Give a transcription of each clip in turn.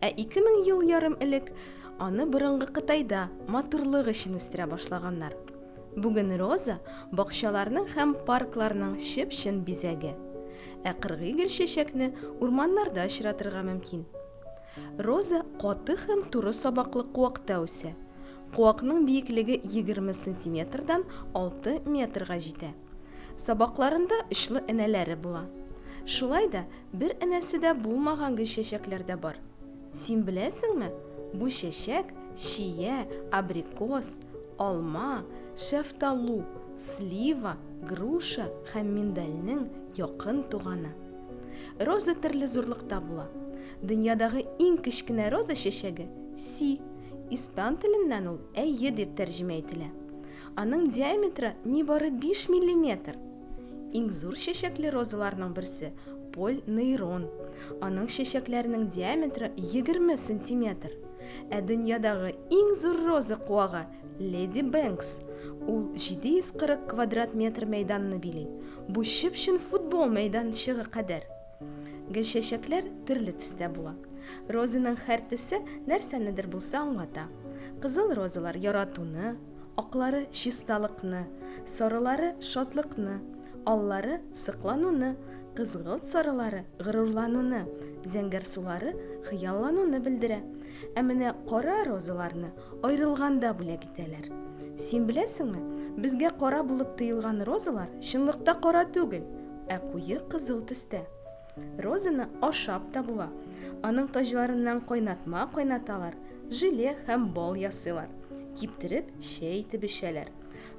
Ә ике мең ел ярым элек аны борынгы Кытайда матурлык өчен үстерә башлаганнар. Бүген роза, бакчаларның һәм паркларның чып-чын бизәге. Ә кыргый гөлчәчәкне урманнарда очратырга мөмкин. Роза каты һәм туры сабаклы куакта үсә. Куакның биеклеге егерме сантиметрдан алты метрга җитә. Сабакларында очлы энәләре була. Шулай да бер энәсе дә булмаган гел чәчәкләр дә бар. Син беләсеңме, бу чәчәк, чия, абрикос, алма, шәфталу, слива, груша һәм миндальнең якын туганы. Роза төрле зурлыкта була. Дөньядагы иң кечкенә роза чәчәге, си. Испан теленнән ул әйе дип тәрҗемә ителә. Аның диаметры нибары 5 миллиметр. Иң зур чәчәкле розаларның берсе поль нейрон. Аның чәчәкләренең диаметры 20 сантиметр. Ә дөньядагы иң зур роза куагы Леди Бэнкс. Ул 740 квадрат метр мәйданны били. Бу чып-чын футбол мәйданчыгы кадәр. Гөлчәчәкләр төрле төстә була. Розаның һәр төсе нәрсәнедер булса аңлата. Кызыл розалар яратуны, аклары чисталыкны, сарылары шатлыкны, аллары сыклануны, кызгылт сарылары горурлануны, зәңгәрсулары хыяллануны белдерә. Ә менә кара розаларны аерылганда бүләк итәләр. Син беләсеңме, безгә кара булып тоелган розалар чынлыкта кара түгел, ә куе кызыл төстә. Розаны ашап та була. Аның таҗларыннан кайнатма кайнаталар, желе һәм бал ясыйлар. Киптереп, чәй итеп эчәләр.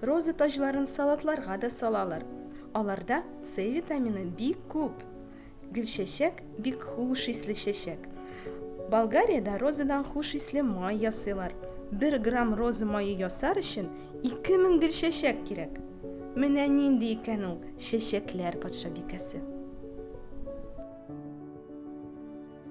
Роза таҗларын салатларга да салалар. Аларда С витамины бик күп. Гөлчәчәк бик хуш исле чәчәк. Болгариядә розадан хуш исле май ясыйлар. Бер грамм роза мае ясар өчен Ике мең гел чәчәк кирәк. Менә нинди икән ул чәчәкләр патшабикәсе!